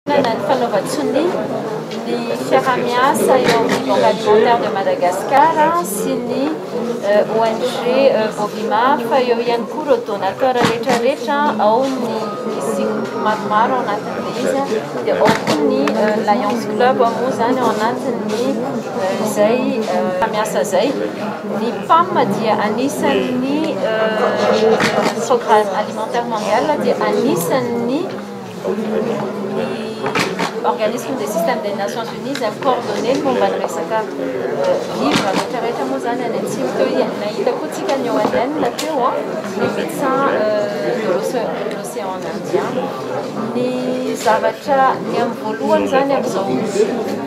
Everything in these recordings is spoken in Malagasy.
Manana ny fanaovan-tsonia ny fiaraha-miasa eo amin'ny Banque Alimentaire de Madagascar sy ny ONG Bovimaf, eo ihany koa ireo donateur rehetra rehetra, ao ny misy groupe maromaro ao anatin'ilay izy, dia ao koa ny Lions Club moa izany ao anatin'ny izay miasa izay. Ny PAM dia anisan'ny Programme Alimentaire Mondial dia anisan'ny Organisme des systèmes des Nations Unies izay mi-coordonner ny momba ny resaka vivre rehetra rehetra moa izany any atsimo teo dia nahita koa tsika ny ONN teo ny médecin de l'océan indien ny zavatra ny amin'ny voalohany izany amin'izao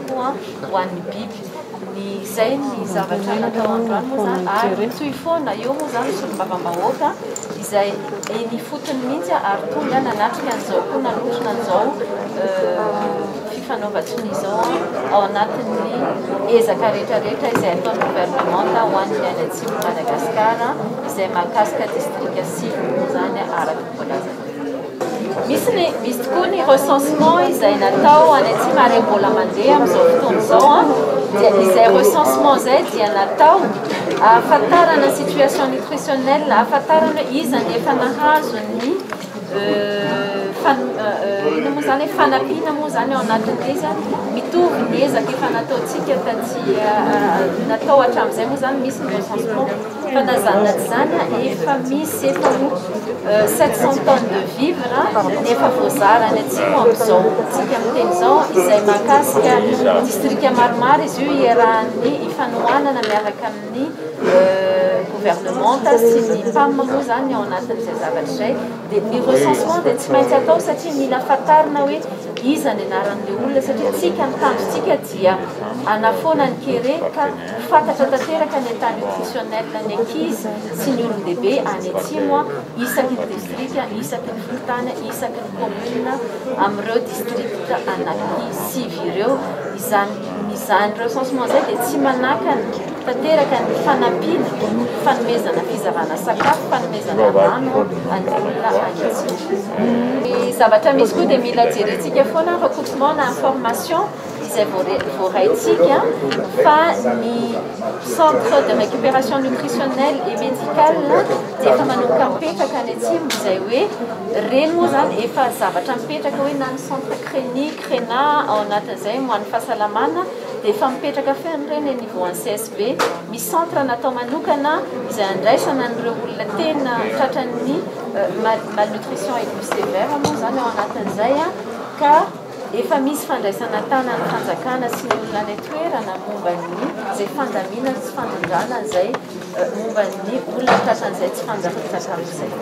koa ho an'ny biby. Ny izay ny zavatra natao androany moa izany ary nitohy foana eo moa izany ny solombavambahoaka izay eny ifotony mihitsy ary tonga nanatrika an'izao koa nanotrona an'izao fifanaovan-tsonia izao ao anatin'ny ezaka rehetrarehetra izay ataon'ny governemanta ho an'ny any atsimon'i Madagasikara izay mahakasika distrika sivy moa izany araka ny voalazan'ny Misy ny misy tokoa ny recensement izay natao any atsimo ary mbola mandeha amin'izao fotoana izao an dia izay recensement izay dia natao ahafantarana situation nutritionnelle ahafantarana iza ny efa nahazo ny inona moa izany hoe fanampiana moa izany ao anatin'izy an mitovy ny ezaka efa nataontsika taty natao hatramin'izay moa izany misy ny recensement Fanazana izany efa misy eto sept cent tonnes de vivre efa voazara any atsimo amin'izao fotoantsika miteny izao izay mahakasika distrika maromaro izy io iarahan'ny ifanohanana miaraka amin'ny gouvernementa sy ny PAM moa izany ao anatin'izay zavatra izay dia ny recensement dia tsy maintsy atao satria mila fantarina hoe iza ny anaran'ilay olona satria tsika ny tanjontsika dia hanafoana ny kere ka Ho fantatra tanteraka any an-tany ofisiônela ny ankizy sy ny olon-dehibe any Atsimo isaky ny distrika, isaky ny fokontany, isaky ny kaominina amin'ireo distrikta anaky sivy ireo. Izany izany recensement izay dia tsy manakana tanteraka ny fanampiana, fanomezana fizavana sakafo, fanomezana rano an'ny olona any Atsimo. Ny zavatra misy koa dia mila jerentsika foana recoursement na information. izay voaraintsika fa ny centre de récupération nutritionnelle et médicale dia efa manomboka mipetraka any atsimo izay hoe ireny moa izany efa zavatra mipetraka hoe na ny centre CRENI, CRENA ao anatin'izay ho an'ny fahasalamana dia efa mipetraka feno ireny eny ivoan'ny CSB. Misy centre natao manokana izay andraisana an'ireo olona tena tratran'ny malnutrition aiguë sévère moa izany ao anatin'izay ka Efa misy fandraisana tanan'ny fanjakana sy ny olona any an-toerana momba ny izay fandaminana sy fandrindrana izay momba ny olona tratran'izay tsy fanjaka-tsakafo izay.